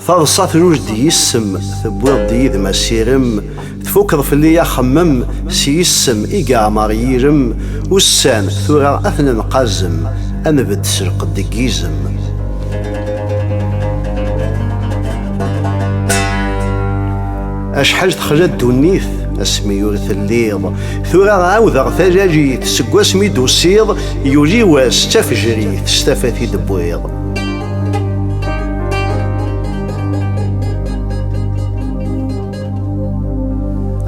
Taḍsa truj-d yis-m, tewwiḍ-d yid-m asirem, tfukeḍ fell-i axemmem, s yis-m i yeɛmer yirem, ussan tura ad ten-nqazem, ad nbedd s lqedd deg yizem. Acḥal texla ddunit asmi ur telliḍ tura ɛawdeɣ talajit seg wasmi d-usiḍ yuli wass d tafejrit s tafat i d-wwiḍ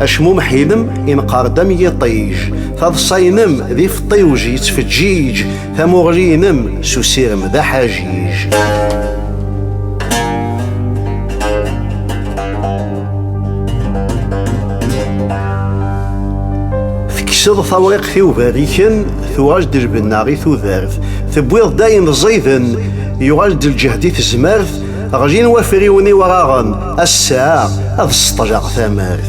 acmumeḥ-inem ineqqer-d am yiṭij taḍsa-inem d ifeṭṭiwj yettfeǧǧiǧ Tamuɣli-inem s usirem d aḥajiij. Tekkseḍ tawriqt i uberriken, tuɣal-d lbenna i tudert. Tewwiḍ-d ayen ẓiden, yuɣal-d lǧehd i tezmert, ɣlin wafriwen iwraɣen, ass-a ad sṭleɣ tamart.